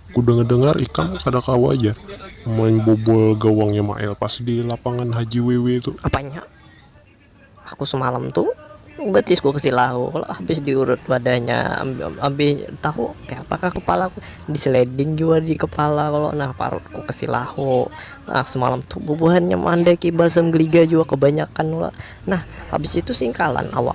Ku dengar dengar ikam kada kawa ja main bobol gawangnya mael pas di lapangan haji wewe tu. Apanya? Aku semalam tu batis ku kasi lahu kalo habis di urut wadahnya habis tahu kaya apa kah kepala ku di sliding jua di kepala kalo nah parut ku kasi lahu nah semalam tu bubuhannya mandaki basam geliga jua kebanyakan kalo nah habis itu singkalan awak.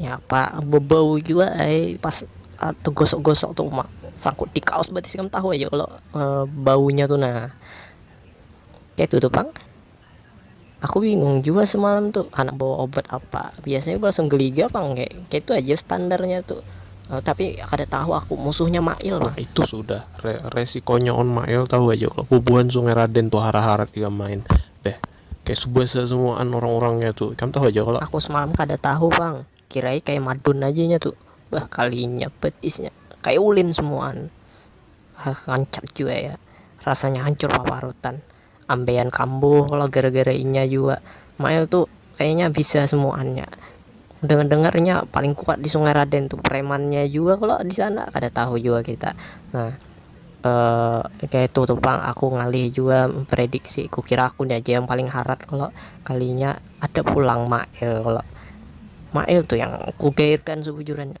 Napa bebau jua ai pas tegosok-gosok tu uma sangkut di kaos batis ikam tahu aja kalo baunya tu nah kaitu tu pang aku bingung jua semalam tu handak bawa obat apa biasanya langsung geliga pang kek kaitu aja standarnya tu tapi kada tahu aku musuhnya mail pang. Itu sudah re resikonya on mail tahu aja kalo bubuhan sungai raden tu hara-harat ikam main beh. Kaya subasa samuaan urang-urang nya tu. Ikam tahu haja kalo. Aku semalam kada tahu pang. Kirai kaya madun haja inya tu. Bah kalinya, batisnya. Kaya ulin samuaan. Hah rancak jua ya. Rasanya hancur paparutan. Ambeian kambuh kalo gara-gara inya jua. Mail tu kayanya bisa samuaan nya. Dengar-dengar inya paling kuat di Sungai Raden tu. Premannya jua kalo di sana. Kada tahu jua kita. Nah. Eh, kaya itu tu pang aku ngalih jua memprediksi, kukira aku ni aja yang paling harat kalo, kalinya ada pulang Mail kalo, Mail tu yang kugairkan sabujurannya.